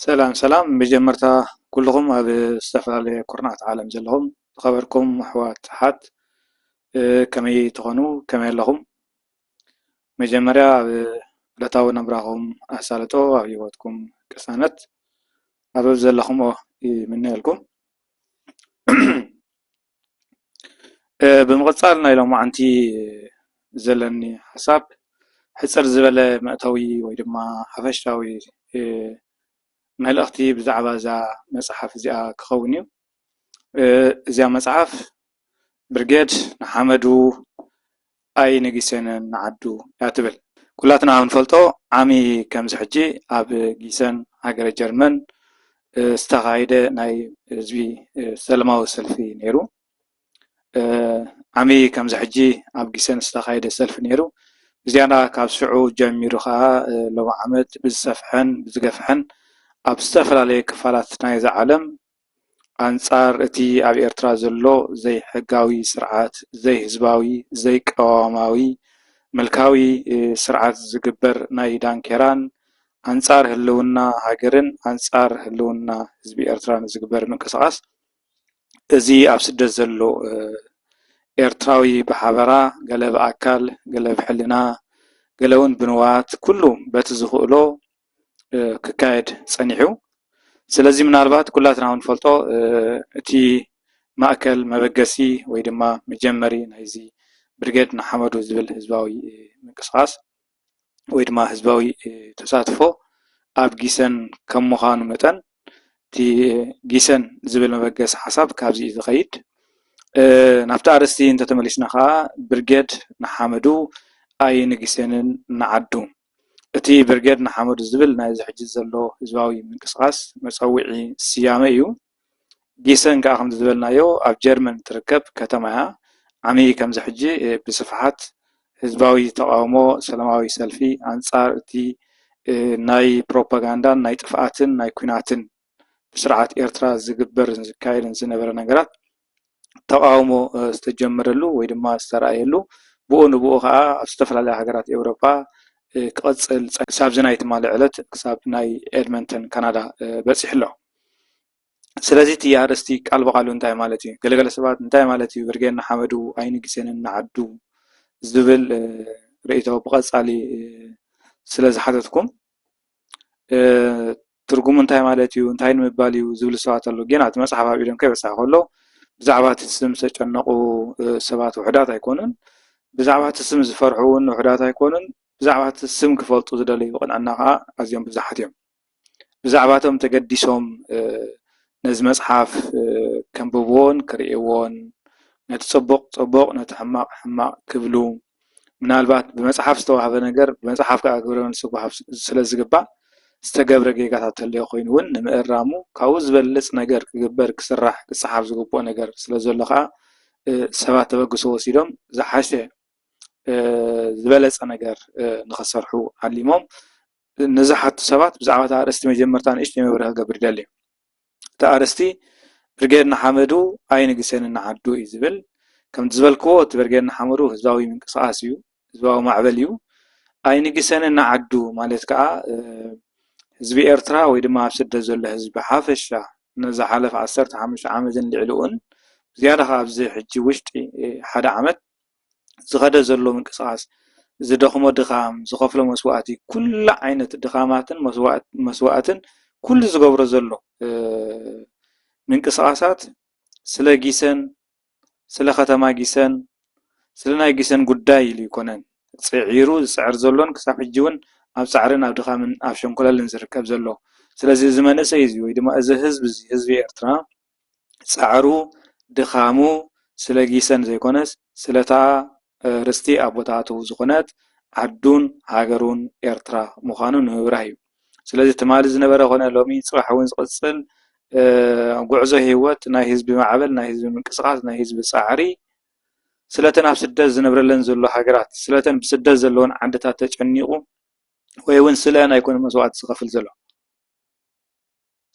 ሰላም ሰላም መጀመርታ ኩሉኹም ኣብ ዝተፈላለየ ኩርናዓት ዓለም ዘለኹም ዝኸበርኩም ኣሕዋት ኣሓት ከመይ ትኾኑ ከመይ ኣለኹም መጀመርያ ኣብ ዕለታዊ ናብራኹም ኣሳልጦ ኣብ ሂወትኩም ቅሳነት ኣብ ዘለኹሞ ይምነየልኩም። ብምቕጻል ናይ ሎማዓንቲ ዘለኒ ሓሳብ ሕጽር ዝበለ መእተዊ ወይ ድማ ሓፈሻዊ መልእኽቲ ብዛዕባ እዛ መጽሓፍ እዚኣ ክኸውን እዩ። እዛ መጽሓፍ ብርጌድ ንሓመዱ ኣይንጊሰንን ንዓዱ እያ ትብል። ኩላትና ከም ንፈልጦ ዓሚ ከምዚ ሕጂ ኣብ ጊሰን ሃገረ ጀርመን ዝተኻይደ ናይ ህዝቢ ሰለማዊ ሰልፊ ነይሩ። ዓሚ ከምዚ ሕጂ ኣብ ጊሰን ዝተኻይደ ሰልፊ ነይሩ። ብዝያዳ ካብ ሽዑ ጀሚሩ ከኣ ሎሚ ዓመት ብዝሰፍሐን ብዝገፍሐን ኣብ ዝተፈላለየ ክፋላት ናይዛ ዓለም ኣንጻር እቲ ኣብ ኤርትራ ዘሎ ዘይሕጋዊ ስርዓት፣ ዘይህዝባዊ፣ ዘይቅዋማዊ ምልካዊ ስርዓት ዝግበር ናይ ዳንኬራን፣ ኣንጻር ህልውና ሃገርን ኣንጻር ህልውና ህዝቢ ኤርትራን ዝግበር ምንቅስቓስ እዚ ኣብ ስደት ዘሎ ኤርትራዊ ብሓበራ ገለ ብኣካል፣ ገለ ብሕልና፣ ገለውን ብንዋት ኩሉ በቲ ዝኽእሎ፣ ክካየድ ፀኒሑ። ስለዚ ምናልባት ኩላትና እውን ንፈልጦ እቲ ማእከል መበገሲ ወይ ድማ መጀመሪ ናይዚ ብርጌድ ንሓመዱ ዝብል ህዝባዊ ምንቅስቓስ ወይ ድማ ህዝባዊ ተሳትፎ ኣብ ጊሰን ከም ምዃኑ መጠን እቲ ጊሰን ዝብል መበገሲ ሓሳብ ካብዚ እዩ ዝኸይድ። ናብቲ ኣርእስቲ እንተተመሊስና ከዓ ብርጌድ ንሓመዱ ኣይንግሰንን ንዓዱ። እቲ ብርጌድ ንሓመዱ ዝብል ናይ እዚ ሕጂ ዘሎ ህዝባዊ ምንቅስቓስ መጸውዒ ስያመ እዩ። ጊሰን ከኣ ከምዚ ዝበልናዮ ኣብ ጀርመን እትርከብ ከተማ እያ። ዓሚ ከምዚ ሕጂ ብስፍሓት ህዝባዊ ተቓውሞ ሰለማዊ ሰልፊ ኣንጻር እቲ ናይ ፕሮፓጋንዳን ናይ ጥፍኣትን ናይ ኩናትን ብስርዓት ኤርትራ ዝግበርን ዝካየድን ዝነበረ ነገራት ተቓውሞ ዝተጀመረሉ ወይ ድማ ዝተራእየሉ ብኡ ንብኡ ኸዓ ኣብ ዝተፈላለያ ሃገራት ኤውሮጳ ክቕጽል ጸኒሑ ክሳብዚ ናይ ትማሊ ዕለት ክሳብ ናይ ኤድመንተን ካናዳ በጺሑ ኣሎ። ስለዚ እቲ ኣርእስቲ ቃል ብቓሉ እንታይ ማለት እዩ? ገለገለ ሰባት እንታይ ማለት እዩ ብርጌድ ንሓመዱ ኣይንግሴንን ንዓዱ ዝብል ርእይቶ ብቐጻሊ ስለ ዝሓተትኩም ትርጉሙ እንታይ ማለት እዩ፣ እንታይ ንምባል እዩ ዝብሉ ሰባት ኣለዉ። ጌና እቲ መጽሓፍ ኣብ ኢዶም ከይበጽሐ ከሎ ብዛዕባ እቲ ስም ዝተጨነቑ ሰባት ውሑዳት ኣይኮኑን። ብዛዕባ እቲ ስም ዝፈርሑ እውን ውሑዳት ኣይኮኑን። ብዛዕባ እቲ ስም ክፈልጡ ዝደለዩ ቅንዕና ከዓ ኣዝዮም ብዙሓት እዮም። ብዛዕባ እቶም ተገዲሶም ነዚ መጽሓፍ ከንብብዎን ክርእይዎን ነቲ ጽቡቕ ጽቡቕ ነቲ ሕማቕ ሕማቕ ክብሉ ምናልባት ብመፅሓፍ ዝተዋህበ ነገር ብመፅሓፍ ከዓ ግብረ መልሲ ክወሃብ ስለዝግባእ ዝተገብረ ጌጋታት እንተልዮ ኮይኑ እውን ንምእራሙ ካብኡ ዝበልፅ ነገር ክግበር ክስራሕ ክፀሓፍ ዝግበኦ ነገር ስለዘሎ ከዓ ሰባት ተበግሶ ወሲዶም ዝሓሸ ዝበለፀ ነገር ንክሰርሑ ዓሊሞም ንዝሓቱ ሰባት ብዛዕባ እቲ ኣርእስቲ መጀመርታ ንእሽተይ መብርሂ ክገብር ይደሊ። እቲ ኣርእስቲ ብርጌድ ንሓመዱ ኣይንግሰንን ንዓዱ እዩ ዝብል ከምቲ ዝበልክዎ እቲ ብርጌድ ንሓመዱ ህዝባዊ ምንቅስቃስ እዩ ህዝባዊ ማዕበል እዩ ኣይንግሰንን ንዓዱ ማለት ከዓ ህዝቢ ኤርትራ ወይ ድማ ኣብ ስደት ዘሎ ህዝቢ ብሓፈሻ ንዝሓለፈ ዓሰርተ ሓሙሽተ ዓመትን ልዕሊኡን ዝያዳ ከዓ ኣብዚ ሕጂ ውሽጢ ሓደ ዓመት ዝኸደ ዘሎ ምንቅስቓስ፣ ዝደኽሞ ድኻም፣ ዝኸፍሎ መስዋእቲ፣ ኩሉ ዓይነት ድኻማትን መስዋእትን ኩሉ ዝገብሮ ዘሎ ምንቅስቓሳት ስለ ጊሰን፣ ስለ ከተማ ጊሰን፣ ስለ ናይ ጊሰን ጉዳይ ኢሉ ኣይኮነን ፅዒሩ ዝፅዕር ዘሎን ክሳብ ሕጂ እውን ኣብ ፃዕርን ኣብ ድኻምን ኣብ ሸንኮለልን ዝርከብ ዘሎ። ስለዚ እዚ መንእሰይ እዚ ወይ ድማ እዚ ህዝቢ እዚ ህዝቢ ኤርትራ፣ ጸዕሩ ድኻሙ ስለ ጊሰን ዘይኮነስ ስለታ ርስቲ ኣቦታቱ ዝኾነት ዓዱን ሃገሩን ኤርትራ ምዃኑ ንምብራህ እዩ። ስለዚ ትማሊ ዝነበረ ኮነ ሎሚ ጽባሕ እውን ዝቕጽል ጉዕዞ ህይወት ናይ ህዝቢ ማዕበል ናይ ህዝቢ ምንቅስቓስ ናይ ህዝቢ ጻዕሪ ስለተን ኣብ ስደት ዝነብረለን ዘሎ ሃገራት ስለተን ብስደት ዘለዎን ዓድታት ተጨኒቑ ወይ እውን ስለ ኣይኮነ መስዋእቲ ዝኸፍል ዘሎ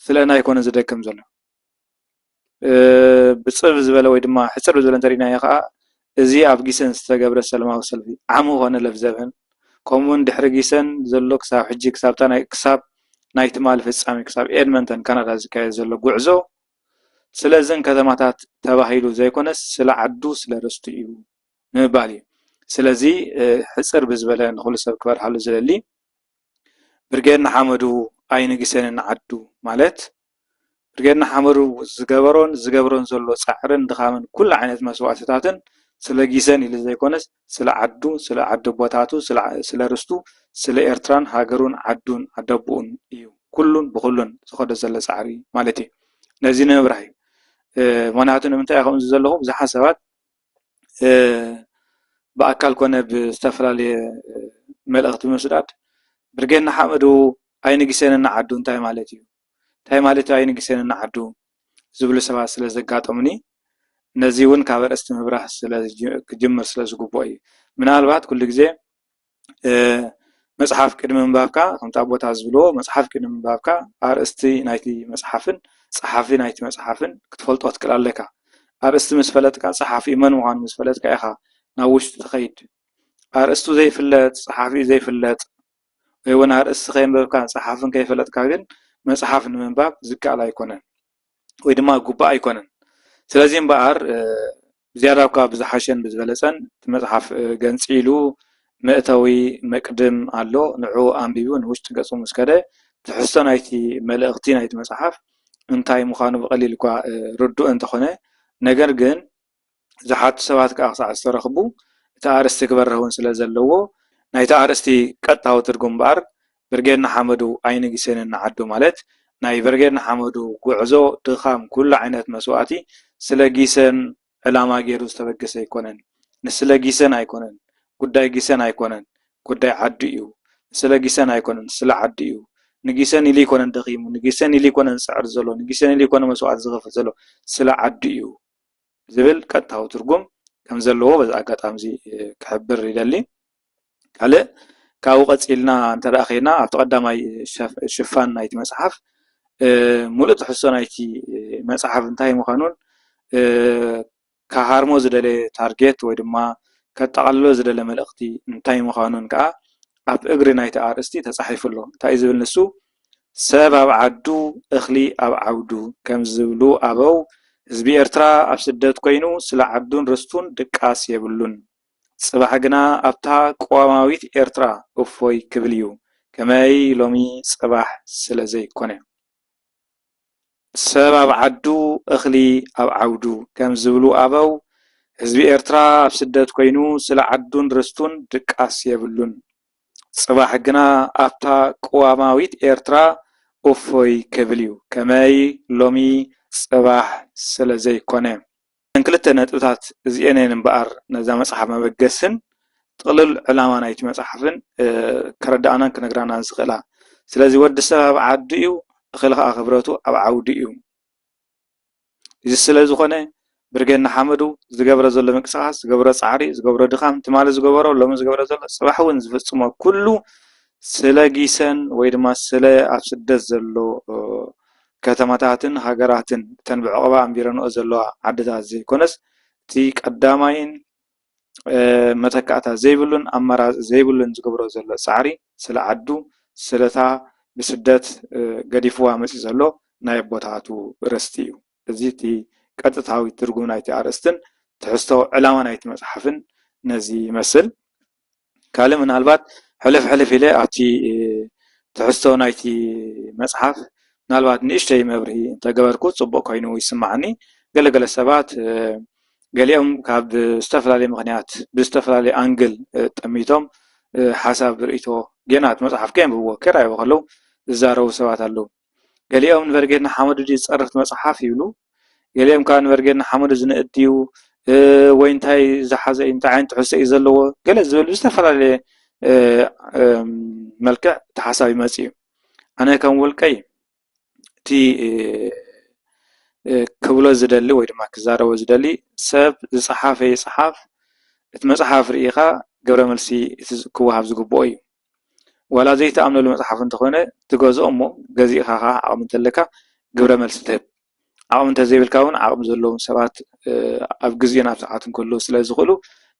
ስለና ኣይኮነን ዝደክም ዘሎ ብፅብ ዝበለ ወይ ድማ ሕፅር ዝበለ እንተሪናዮ ከዓ እዚ ኣብ ጊሰን ዝተገብረ ሰለማዊ ሰልፊ ዓሚ ኮነ ለፍዘብህን ከምኡ ውን ድሕሪ ጊሰን ዘሎ ክሳብ ሕጂ ክሳብታ ናይ ክሳብ ናይ ትማሊ ፍፃሜ ክሳብ ኤድመንተን ካናዳ ዝካየድ ዘሎ ጉዕዞ ስለዘን ከተማታት ተባሂሉ ዘይኮነስ ስለ ዓዱ ስለ ርስቱ እዩ ንምባል እዩ። ስለዚ ሕጽር ብዝበለ ንኹሉ ሰብ ክበርሃሉ ዝደሊ ብርጌድ ንሓመዱ ኣይንግሰን ንዓዱ ማለት ብርጌድ ንሓመዱ ዝገበሮን ዝገብሮን ዘሎ ጻዕርን ድኻምን ኩሉ ዓይነት መስዋእትታትን ስለ ጊሰን ኢሉ ዘይኮነስ ስለ ዓዱ ስለ ዓዲ ቦታቱ ስለ ርስቱ ስለ ኤርትራን ሃገሩን ዓዱን ኣደቡኡን እዩ ኩሉን ብኹሉን ዝኸዶ ዘሎ ጻዕሪ ማለት እዩ ነዚ ንምብራህ እዩ ምክንያቱ ንምንታይ ከምዚ ዘለኹ ብዙሓት ሰባት ብኣካል ኮነ ብዝተፈላለየ መልእኽቲ ምስዳድ ብርጌድ ንሓመዱ ኣይንግሰንን ዓዱ እንታይ ማለት እዩ? እንታይ ማለት እዩ ኣይንግሰንን ዓዱ? ዝብሉ ሰባት ስለ ዘጋጠሙኒ ነዚ እውን ካብ ኣርእስቲ ምብራህ ክጅምር ስለ ዝግበኦ እዩ። ምናልባት ኩሉ ግዜ መፅሓፍ ቅድሚ ምንባብካ ከምቲ ኣቦታት ዝብልዎ መፅሓፍ ቅድሚ ምንባብካ ኣርእስቲ ናይቲ መፅሓፍን ፀሓፊ ናይቲ መፅሓፍን ክትፈልጦ ክትክእል ኣለካ። ኣርእስቲ ምስ ፈለጥካ ፀሓፊኡ መን ምኳኑ ምስ ፈለጥካ ኢካ ናብ ውሽጢ ትከይድ። ኣርእስቱ ዘይፍለጥ ፀሓፊኡ ዘይፍለጥ ወይ እውን ኣርእስቲ ከየንበብካን ፀሓፍን ከይፈለጥካ ግን መፅሓፍ ንምንባብ ዝከኣል ኣይኮነን። ወይ ድማ ግቡእ ኣይኮነን። ስለዚ እምበኣር ብዝያዳ እኳ ብዝሓሸን ብዝበለጸን እቲ መጽሓፍ ገንጺሉ መእተዊ መቅድም ኣሎ ንዑኡ ኣንቢቡ ንውሽጢ ገጹ ምስ ከደ ትሕዝቶ ናይቲ መልእኽቲ ናይቲ መጽሓፍ እንታይ ምዃኑ ብቐሊሉ እኳ ርዱእ እንተኾነ ነገር ግን ዝሓቱ ሰባት ከኣ ክሳዕ ዝተረኽቡ እቲ ኣርእስቲ ክበርህ እውን ስለ ዘለዎ ናይቲ ኣርእስቲ ቀጥታዊ ትርጉም እምበኣር ብርጌድ ንሓመዱ ኣይንግስንን ንዓዱ ማለት ናይ ብርጌድ ንሓመዱ ጉዕዞ ድኻም ኩሉ ዓይነት መስዋእቲ ስለ ጊሰን ዕላማ ጌሩ ዝተበገሰ ኣይኮነን ንስለ ጊሰን ኣይኮነን ጉዳይ ጊሰን ኣይኮነን ጉዳይ ዓዱ እዩ ንስለ ጊሰን ኣይኮነን ስለ ዓዱ እዩ ንጊሰን ኢሉ ኣይኮነን ደኺሙ ንጊሰን ኢሉ ኣይኮነን ዝጽዕር ዘሎ ንጊሰን ኢሉ ኣይኮነን መስዋእቲ ዝኸፍል ዘሎ ስለ ዓዱ እዩ ዝብል ቀጥታዊ ትርጉም ከም ዘለዎ በዚ ኣጋጣሚ እዚ ክሕብር ይደሊ። ካልእ ካብኡ ቀጺልና እንተ ደኣ ዄና ኣብቲ ቀዳማይ ሽፋን ናይቲ መጽሓፍ ሙሉእ ትሕዝቶ ናይቲ መጽሓፍ እንታይ ምዃኑን ክሃርሞ ዝደለየ ታርጌት ወይ ድማ ከጠቓልሎ ዝደለ መልእኽቲ እንታይ ምዃኑን ከኣ ኣብ እግሪ ናይቲ ኣርእስቲ ተጻሒፉ ኣሎ። እንታይ እዩ ዝብል ንሱ? ሰብ ኣብ ዓዱ እኽሊ ኣብ ዓውዱ ከም ዝብሉ ኣበው፣ ህዝቢ ኤርትራ ኣብ ስደት ኮይኑ ስለ ዓዱን ርስቱን ድቃስ የብሉን። ጽባሕ ግና ኣብታ ቅዋማዊት ኤርትራ እፎይ ክብል'ዩ፣ ከመይ ሎሚ ጽባሕ ስለ ዘይኮነ። ሰብ ኣብ ዓዱ እኽሊ ኣብ ዓውዱ ከም ዝብሉ ኣበው፣ ህዝቢ ኤርትራ ኣብ ስደት ኮይኑ ስለ ዓዱን ርስቱን ድቃስ የብሉን። ጽባሕ ግና ኣብታ ቅዋማዊት ኤርትራ እፎይ ክብል እዩ፣ ከመይ ሎሚ ጽባሕ ስለ ዘይኮነ። እዘን ክልተ ነጥብታት እዚኤን እየን እምበኣር ነዛ መጽሓፍ መበገሲን ጥቕልል ዕላማ ናይቲ መጽሓፍን ከረድኣናን ክነግራናን ዝኽእላ። ስለዚ ወዲ ሰብ ኣብ ዓዱ እዩ፣ እኽሊ ከኣ ክብረቱ ኣብ ዓውዱ እዩ። እዚ ስለዝኾነ ብርጌድ ንሓመዱ ዝገብሮ ዘሎ ምንቅስቃስ ዝገብሮ ፃዕሪ ዝገብሮ ድኻም ትማሊ ዝገበሮ ሎሚ ዝገብሮ ዘሎ ፅባሕ እውን ዝፍፅሞ ኩሉ ስለ ጊሰን ወይ ድማ ስለ ኣብ ስደት ዘሎ ከተማታትን ሃገራትን እተን ብዕቅባ ኣንቢረንኦ ዘለዋ ዓድታት ዘይኮነስ እቲ ቀዳማይን መተካእታ ዘይብሉን ኣማራፂ ዘይብሉን ዝገብሮ ዘሎ ፃዕሪ ስለ ዓዱ ስለ እታ ብስደት ገዲፍዋ መፂኡ ዘሎ ናይ ኣቦታቱ ርስቲ እዩ። እዚ እቲ ቀጥታዊ ትርጉም ናይቲ ኣርእስትን ትሕዝቶ ዕላማ ናይቲ መፅሓፍን ነዚ ይመስል። ካልእ ምናልባት ሕልፍ ሕልፍ ኢለ ኣብቲ ትሕዝቶ ናይቲ መጽሓፍ ምናልባት ንእሽተይ መብርሂ እንተገበርኩ ጽቡቕ ኮይኑ ይስምዓኒ። ገለ ገለ ሰባት ገሊኦም ካብ ዝተፈላለየ ምኽንያት ብዝተፈላለየ ኣንግል ጠሚቶም ሓሳብ ርእይቶ ጌና እቲ መጽሓፍ ከየንብብዎ ከይረኣይዎ ከለዉ ዝዛረቡ ሰባት ኣለዉ። ገሊኦም ንበርጌድ ንሓመዱ ድዩ ዝጸርፍ እቲ መጽሓፍ ይብሉ፣ ገሊኦም ከኣ ንበርጌድ ንሓመዱ ዝንእድ ድዩ ወይ እንታይ ዝሓዘ እዩ እንታይ ዓይነት ትሕዝቶ እዩ ዘለዎ ገለ ዝብል ብዝተፈላለየ መልክዕ እቲ ሓሳብ ይመጽእ እዩ። ኣነ ከም ውልቀይ እቲ ክብሎ ዝደሊ ወይ ድማ ክዛረቦ ዝደሊ ሰብ ዝጸሓፈ ይጽሓፍ እቲ መጽሓፍ ርኢኻ ግብረ መልሲ ክወሃብ ዝግብኦ እዩ። ዋላ ዘይትኣምነሉ መጽሓፍ እንተኾነ ትገዝኦ እሞ ገዚእኻ ከኣ ዓቕሚ እንተለካ ግብረ መልሲ ትህብ። ዓቕሚ እንተዘይብልካ ውን ዓቕሚ ዘለዎም ሰባት ኣብ ግዜን ኣብ ሰዓትን ክህልዉ ስለ ዝኽእሉ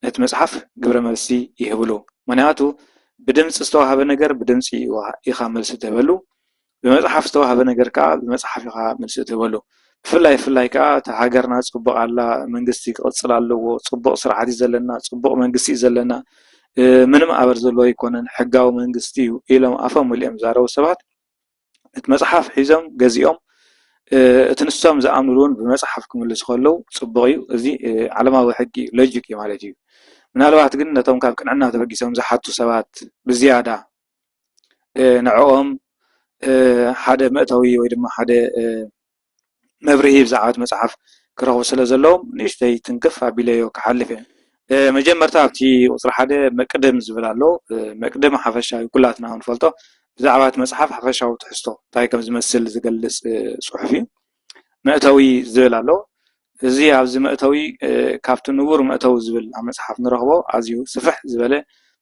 ነቲ መጽሓፍ ግብረ መልሲ ይህብሉ። ምክንያቱ ብድምጺ ዝተዋህበ ነገር ብድምጺ ኢኻ መልሲ ትህበሉ። ብመጽሓፍ ዝተዋህበ ነገር ከኣ ብመጽሓፍ ኢኻ መልሲ እትህበሉ። ብፍላይ ብፍላይ ከኣ እታ ሃገርና ጽቡቕ ኣላ፣ መንግስቲ ክቕጽል ኣለዎ፣ ጽቡቕ ስርዓት እዩ ዘለና፣ ጽቡቕ መንግስቲ እዩ ዘለና፣ ምንም ኣበር ዘለዎ ኣይኮነን፣ ሕጋዊ መንግስቲ እዩ ኢሎም ኣፎም መሊኦም ዝዛረቡ ሰባት ነቲ መጽሓፍ ሒዞም ገዚኦም እቲ ንሶም ዝኣምንሉ እውን ብመጽሓፍ ክምልሱ ከለዉ ጽቡቕ እዩ። እዚ ዓለማዊ ሕጊ ሎጂክ እዩ ማለት እዩ። ምናልባት ግን ነቶም ካብ ቅንዕና ተበጊሶም ዝሓቱ ሰባት ብዝያዳ ንዕኦም ሓደ መእተዊ ወይ ድማ ሓደ መብርሂ ብዛዕባ እቲ መፅሓፍ ክረኽቡ ስለ ዘለዎም ንእሽተይ ትንክፍ ኣቢለዮ ክሓልፍ እየ። መጀመርታ ኣብቲ ቁፅሪ ሓደ መቅድም ዝብል ኣሎ። መቅድም ሓፈሻ እዩ ኩላትና ክንፈልጦ ብዛዕባ እቲ መፅሓፍ ሓፈሻዊ ትሕዝቶ እንታይ ከም ዝመስል ዝገልፅ ፅሑፍ እዩ። መእተዊ ዝብል ኣሎ። እዚ ኣብዚ መእተዊ ካብቲ ንቡር መእተዊ ዝብል ኣብ መጽሓፍ ንረኽቦ ኣዝዩ ስፍሕ ዝበለ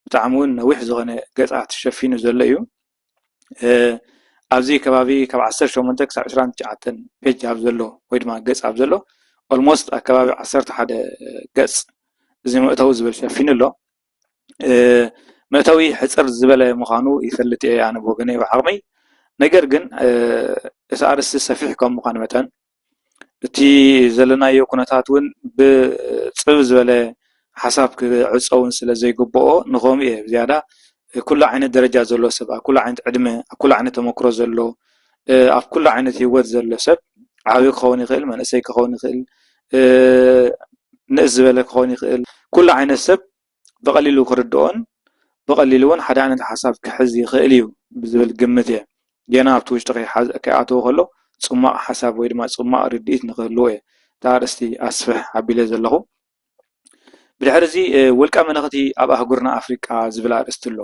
ብጣዕሚ ውን ነዊሕ ዝኾነ ገጻት ሸፊኑ ዘሎ እዩ። ኣብዚ ከባቢ ካብ ዓሰርተ ሸሞንተ ክሳብ ዕስራን ትሽዓተን ፔጅ ኣብ ዘሎ ወይ ድማ ገጽ ኣብ ዘሎ ኣልሞስት ኣብ ከባቢ ዓሰርተ ሓደ ገጽ እዚ መእተዊ ዝብል ሸፊኑ ኣሎ። መእተዊ ሕጽር ዝበለ ምዃኑ ይፈልጥ እየ ኣነ ብወገነይ ብዓቕመይ ነገር ግን እቲ ኣርእስቲ ሰፊሕ ካብ ምዃኑ መጠን እቲ ዘለናዮ ኩነታት እውን ብጽብብ ዝበለ ሓሳብ ክዕጾ እውን ስለ ዘይግብኦ ንኸምኡ እየ ዝያዳ ኩሉ ዓይነት ደረጃ ዘለዎ ሰብ ኣብ ኩሉ ዓይነት ዕድመ ኣብ ኩሉ ዓይነት ተመክሮ ዘሎ ኣብ ኩሉ ዓይነት ሂወት ዘሎ ሰብ ዓብይ ክኸውን ይኽእል መንእሰይ ክኸውን ይኽእል ንእስ ዝበለ ክኸውን ይኽእል ኩሉ ዓይነት ሰብ ብቐሊሉ ክርድኦን ብቐሊሉ ውን ሓደ ዓይነት ሓሳብ ክሕዝ ይኽእል እዩ ብዝብል ግምት እየ ገና ኣብቲ ውሽጢ ከይኣተወ ከሎ ፅሟቕ ሓሳብ ወይ ድማ ፅሟቕ ርድኢት ንክህልዎ እየ እታ ኣርእስቲ ኣስፍሕ ኣቢለያ ዘለኹ። ብድሕሪ እዚ ውልቀ መለኽቲ ኣብ ኣህጉርና ኣፍሪቃ ዝብል ኣርእስቲ ኣሎ።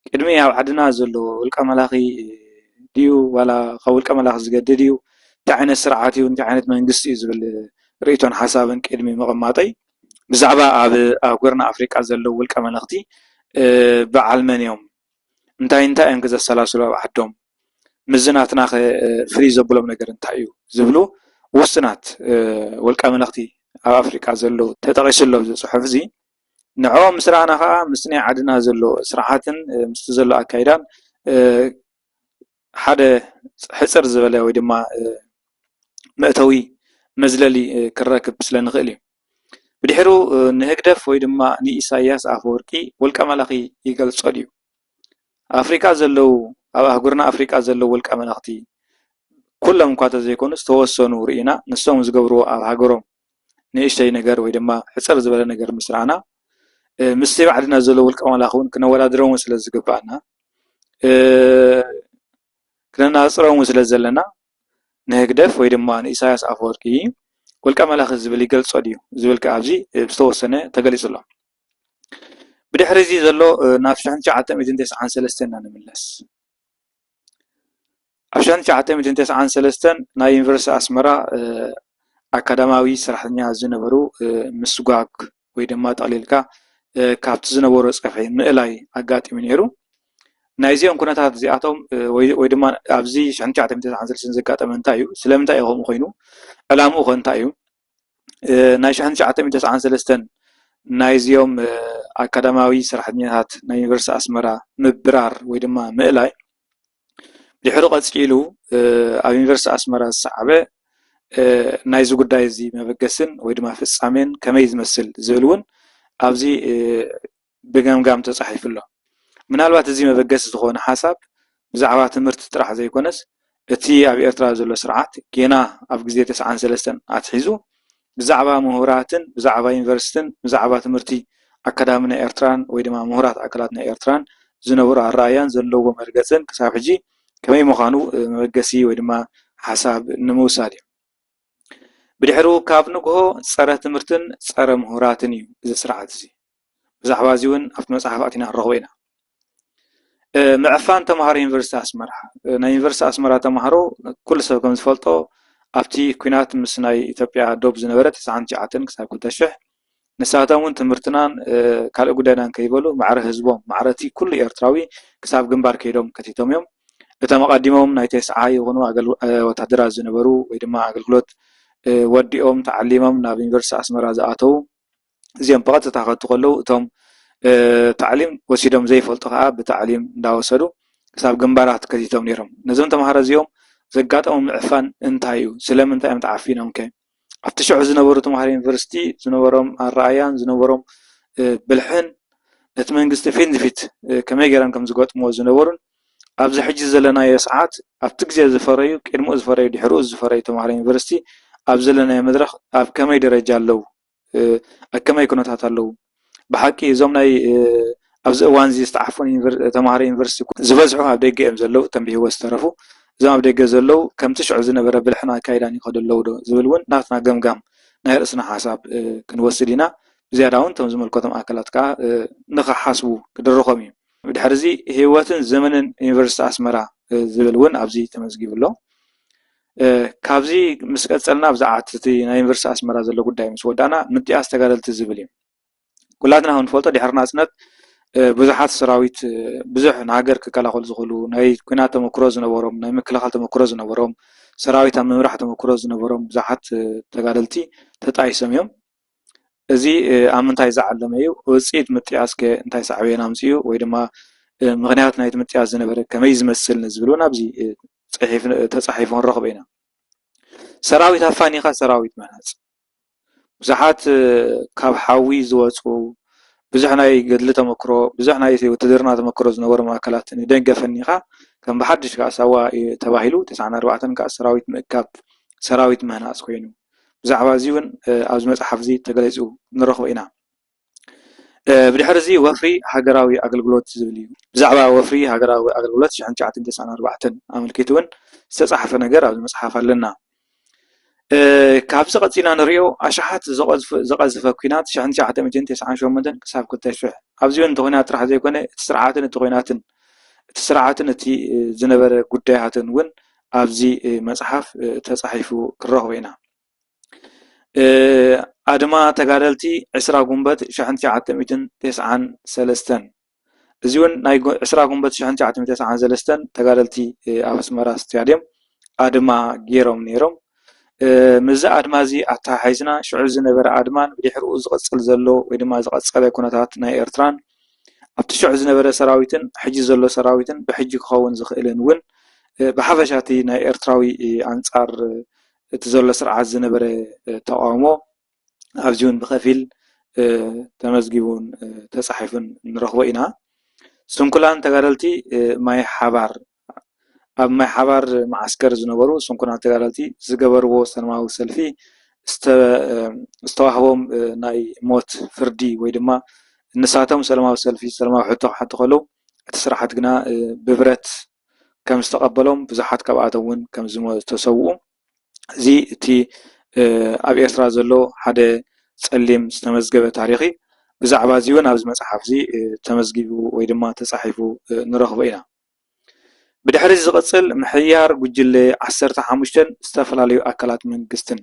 ቅድሚ ኣብ ዓድና ዘሎ ውልቀ መላኺ ድዩ ዋላ ካብ ውልቀ መላኺ ዝገድድ እዩ፣ እንታይ ዓይነት ስርዓት እዩ፣ እንታይ ዓይነት መንግስቲ እዩ ዝብል ርእይቶን ሓሳብን ቅድሚ ምቕማጠይ ብዛዕባ ኣብ ኣህጉርና ኣፍሪቃ ዘለዉ ውልቀ መለኽቲ በዓል መን እዮም? እንታይ እንታይ እዮም ከ ዘሰላስሉ ኣብ ዓዶም? ምስዚ ናትናኸ ፍልይ ዘብሎም ነገር እንታይ እዩ? ዝብሉ ውሱናት ውልቀ መለኽቲ ኣብ ኣፍሪቃ ዘለዉ ተጠቒሱ ኣሎ ኣብዚ ጽሑፍዚ። ንዕኦም ምስ ረኣና ከኣ ምስቲ ናይ ዓድና ዘሎ ስርዓትን ምስቲ ዘሎ ኣካይዳን ሓደ ሕጽር ዝበለ ወይ ድማ መእተዊ መዝለሊ ክንረክብ ስለ ንኽእል እዩ። ብድሕሩ ንህግደፍ ወይ ድማ ንኢሳይያስ ኣፈወርቂ ውልቀ መላኺ ይገልጾ ድዩ? ኣፍሪቃ ዘለዉ ኣብ ኣህጉርና ኣፍሪቃ ዘለዉ ውልቀ መላኽቲ ኩሎም እኳ እንተዘይኮኑ ዝተወሰኑ ርኢና ንሶም ዝገብርዎ ኣብ ሃገሮም ንእሽተይ ነገር ወይ ድማ ሕጽር ዝበለ ነገር ምስ ራኣና ምስቲ ኣብ ዓድና ዘሎ ውልቀ መላኺ ዉን ክነወዳድሮም ስለ ዝግብኣና ክነናጽሮም ስለ ዘለና ንህግደፍ ወይ ድማ ንኢሳያስ ኣፈወርቂ ውልቀ መላኺ ዝብል ይገልጾ ድዩ ዝብል ከኣ ኣብዚ ዝተወሰነ ተገሊጹ ኣሎ። ብድሕሪ እዚ ዘሎ ናብ ሽሕን ትሽዓተ ሚእትን ተስዓን ሰለስተን ኢና ንምለስ። ኣብ ሽሕን ትሽዓተ ሚእትን ተስዓን ሰለስተን ናይ ዩኒቨርሲቲ ኣስመራ ኣካዳማዊ ሰራሕተኛ ዝነበሩ ምስጓግ ወይ ድማ ጠቕሊልካ ካብቲ ዝነበሮ ፀፍሒ ምእላይ ኣጋጢሙ ነይሩ። ናይዚኦም ኩነታት እዚኣቶም ወይ ድማ ኣብዚ ሽሕን ትሽዓተ ሚእትን ተስዓን ሰለስተን ዘጋጠመ እንታይ እዩ? ስለምንታይ እዩ ከምኡ ኮይኑ? ዕላምኡ ከ እንታይ እዩ? ናይ ሽሕን ትሽዓተ ሚእትን ተስዓን ሰለስተን ናይዚኦም ኣካዳማዊ ሰራሕተኛታት ናይ ዩኒቨርስቲ ኣስመራ ምብራር ወይ ድማ ምእላይ ድሕሪ ቀፂሉ ኣብ ዩኒቨርስቲ ኣስመራ ዝሰዓበ ናይዚ ጉዳይ እዚ መበገስን ወይ ድማ ፍፃሜን ከመይ ዝመስል ዝብል እውን ኣብዚ ብገምጋም ተጻሒፉ ኣሎ። ምናልባት እዚ መበገሲ ዝኾነ ሓሳብ ብዛዕባ ትምህርቲ ጥራሕ ዘይኮነስ እቲ ኣብ ኤርትራ ዘሎ ስርዓት ጌና ኣብ ግዜ ተስዓን ሰለስተን ኣትሒዙ ብዛዕባ ምሁራትን ብዛዕባ ዩኒቨርሲትን ብዛዕባ ትምህርቲ ኣካዳሚ ናይ ኤርትራን ወይ ድማ ምሁራት ኣካላት ናይ ኤርትራን ዝነበሮ ኣረኣእያን ዘለዎ መርገጽን ክሳብ ሕጂ ከመይ ምዃኑ መበገሲ ወይ ድማ ሓሳብ ንምውሳድ እዩ። ብድሕሩ ካብ ንግሆ ጸረ ትምህርትን ጸረ ምሁራትን እዩ እዚ ስርዓት እዚ። ብዛዕባ እዚ እውን ኣብቲ መፅሓፍ ኣቲና ክንረኽቦ ኢና። ምዕፋን ተምሃሮ ዩኒቨርሲቲ ኣስመራ ናይ ዩኒቨርሲቲ ኣስመራ ተምሃሮ ኩሉ ሰብ ከም ዝፈልጦ ኣብቲ ኩናት ምስ ናይ ኢትዮጵያ ዶብ ዝነበረ ትስዓን ትሽዓተን ክሳብ ክልተ ሽሕ ንሳቶም እውን ትምህርትናን ካልእ ጉዳይናን ከይበሉ ማዕረ ህዝቦም ማዕረ እቲ ኩሉ ኤርትራዊ ክሳብ ግንባር ከይዶም ከቲቶም እዮም እቶም ኣቐዲሞም ናይ ተስዓ ይኹኑ ወታደራት ዝነበሩ ወይ ድማ ኣገልግሎት ወዲኦም ተዓሊሞም ናብ ዩኒቨርሲቲ ኣስመራ ዝኣተዉ እዚኦም ብቐጥታ ከቱ ከለዉ እቶም ታዕሊም ወሲዶም ዘይፈልጡ ከዓ ብታዕሊም እንዳወሰዱ ክሳብ ግንባራት ከቲቶም ነይሮም። ነዞም ተምሃሮ እዚኦም ዘጋጠሞም ምዕፋን እንታይ እዩ? ስለምንታይ እዮም ተዓፊኖም ከ? ኣብቲ ሽዑ ዝነበሩ ተምሃሮ ዩኒቨርሲቲ ዝነበሮም ኣረኣያን ዝነበሮም ብልሕን ነቲ መንግስቲ ፊት ንፊት ከመይ ገይሮም ከም ዝገጥምዎ ዝነበሩን ኣብዚ ሕጂ ዘለናዮ ሰዓት ኣብቲ ግዜ ዝፈረዩ ቅድምኡ ዝፈረዩ ድሕርኡ ዝፈረዩ ተምሃሮ ዩኒቨርሲቲ ኣብ ዘለናዮ መድረኽ ኣብ ከመይ ደረጃ ኣለዉ? ኣብ ከመይ ኩነታት ኣለዉ? ብሓቂ እዞም ናይ ኣብዚ እዋን እዚ ዝተዓፈኑ ተምሃሮ ዩኒቨርሲቲ ዝበዝሑ ኣብ ደገ እዮም ዘለዉ እቶም ብህይወት ዝተረፉ እዞም ኣብ ደገ ዘለዉ ከምቲ ሽዑ ዝነበረ ብልሕን ኣካይዳን ይኸዱ ኣለዉ ዶ ዝብል እውን ናትና ገምጋም ናይ ርእስና ሓሳብ ክንወስድ ኢና። ብዝያዳ እውን እቶም ዝምልከቶም ኣካላት ከዓ ንኽሓስቡ ክድርኾም እዩ። ብድሕሪዚ ህይወትን ዘመንን ዩኒቨርሲቲ ኣስመራ ዝብል እውን ኣብዚ ተመዝጊቡ ኣሎ። ካብዚ ምስ ቀጸልና ብዛዕባ እቲ ናይ ዩኒቨርሲቲ ኣስመራ ዘሎ ጉዳይ ምስ ወዳእና ምጥያስ ተጋደልቲ ዝብል እዩ። ኩላትና ከም ንፈልጦ ድሕሪ ናጽነት ብዙሓት ሰራዊት ብዙሕ ንሃገር ክከላኸሉ ዝኽእሉ ናይ ኩናት ተመክሮ ዝነበሮም ናይ ምክልኻል ተመክሮ ዝነበሮም ሰራዊት ኣብ ምምራሕ ተመክሮ ዝነበሮም ብዙሓት ተጋደልቲ ተጣይሶም እዮም። እዚ ኣብ ምንታይ ዝዓለመ እዩ? ውፅኢት ምጥያስ ከ እንታይ ሳዕቤን ኣምፂኡ ወይ ድማ ምኽንያት ናይቲ ምጥያስ ዝነበረ ከመይ ዝመስል ንዝብሉ ናብዚ ተፃሒፉ ክንረኽቦ ኢና። ሰራዊት ኣፋኒኻ ሰራዊት ምህናፅ፣ ብዙሓት ካብ ሓዊ ዝወፁ ብዙሕ ናይ ገድሊ ተመክሮ ብዙሕ ናይ ውትድርና ተመክሮ ዝነበሮም ኣካላት ንደገ ኣፈኒኻ ከም ብሓዱሽ ከዓ ሳዋ ተባሂሉ ተስዓን ኣርባዕተን ከዓ ሰራዊት ምእካብ፣ ሰራዊት ምህናፅ ኮይኑ። ብዛዕባ እዚ እውን ኣብዚ መጽሓፍ እዚ ተገሊጹ ንረኽቦ ኢና። ብድሕሪ እዚ ወፍሪ ሃገራዊ ኣገልግሎት ዝብል እዩ። ብዛዕባ ወፍሪ ሃገራዊ ኣገልግሎት ሽሕን ትሽዓተን ተስዓን ኣርባዕተን ኣመልኪቱ እውን ዝተጻሕፈ ነገር ኣብዚ መጽሓፍ ኣለና። ካብዚ ቀጺልና ንርእዮ ኣሽሓት ዝቐዝፈ ኩናት ሽሕን ትሽዓተ ሚእትን ተስዓን ሸሞንተን ክሳብ ክልተ ሽሕ ኣብዚ እውን እቲ ኩናት ጥራሕ ዘይኮነ እቲ ስርዓትን እቲ ኩናትን እቲ ስርዓትን እቲ ዝነበረ ጉዳያትን እውን ኣብዚ መፅሓፍ ተፃሒፉ ክንረኽቦ ኢና። ኣድማ ተጋደልቲ ዕስራ ጉንበት ሽሕን ትሽዓተ ሚእትን ቴስዓን ሰለስተን እዚ እውን ናይ ዕስራ ጉንበት ሽሕን ትሽዓተ ሚእትን ቴስዓን ሰለስተን ተጋደልቲ ኣብ ኣስመራ ስታድየም ኣድማ ገይሮም ነይሮም። ምስዚ ኣድማ እዚ ኣተሓሒዝና ሽዑ ዝነበረ ኣድማን ብድሕሪኡ ዝቕፅል ዘሎ ወይ ድማ ዝቐፀለ ኩነታት ናይ ኤርትራን ኣብቲ ሽዑ ዝነበረ ሰራዊትን ሕጂ ዘሎ ሰራዊትን ብሕጂ ክኸውን ዝኽእልን እውን ብሓፈሻ እቲ ናይ ኤርትራዊ ኣንጻር እቲ ዘሎ ስርዓት ዝነበረ ተቓውሞ ኣብዚ እውን ብኸፊል ተመዝጊቡን ተጻሒፉን ንረኽቦ ኢና። ስንኩላን ተጋደልቲ ማይ ሓባር ኣብ ማይ ሓባር መዓስከር ዝነበሩ ስንኩላን ተጋደልቲ ዝገበርዎ ሰላማዊ ሰልፊ ዝተዋህቦም ናይ ሞት ፍርዲ ወይ ድማ ንሳቶም ሰላማዊ ሰልፊ ሰላማዊ ሕቶ ክሓቱ ከለው እቲ ስርዓት ግና ብብረት ከም ዝተቐበሎም ብዙሓት ካብኣቶም እውን ከም ዝተሰውኡ እዚ እቲ ኣብ ኤርትራ ዘሎ ሓደ ጸሊም ዝተመዝገበ ታሪኽ እዩ። ብዛዕባ እዚ እውን ኣብዚ መጽሓፍ እዚ ተመዝጊቡ ወይ ድማ ተጻሒፉ ንረኽቦ ኢና። ብድሕሪዚ ዝቕፅል ምሕያር ጉጅለ ዓሰርተ ሓሙሽተን ዝተፈላለዩ ኣካላት መንግስትን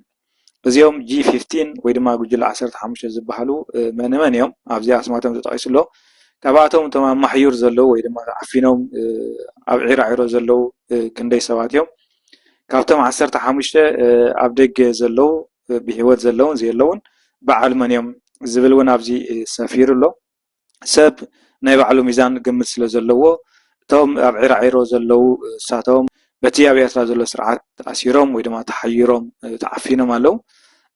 እዚኦም ጅይ ፊፍቲን ወይ ድማ ጉጅለ ዓሰርተ ሓሙሽተ ዝበሃሉ መን መን እዮም? ኣብዚ ኣስማቶም ተጠቒሱ ኣሎ። ካብኣቶም እቶም ኣብ ማሕዩር ዘለዉ ወይ ድማ ዓፊኖም ኣብ ዒራዒሮ ዘለዉ ክንደይ ሰባት እዮም? ካብቶም ዓሰርተ ሓሙሽተ ኣብ ደገ ዘለዉ ብህይወት ዘለዉን ዘየለዉን በዓል መን እዮም? ዝብል እውን ኣብዚ ሰፊሩ ኣሎ። ሰብ ናይ ባዕሉ ሚዛን ግምት ስለ ዘለዎ እቶም ኣብ ዒራዒሮ ዘለዉ ንሳቶም በቲ ኣብ ኤርትራ ዘሎ ስርዓት ተኣሲሮም ወይ ድማ ተሓይሮም ተዓፊኖም ኣለዉ።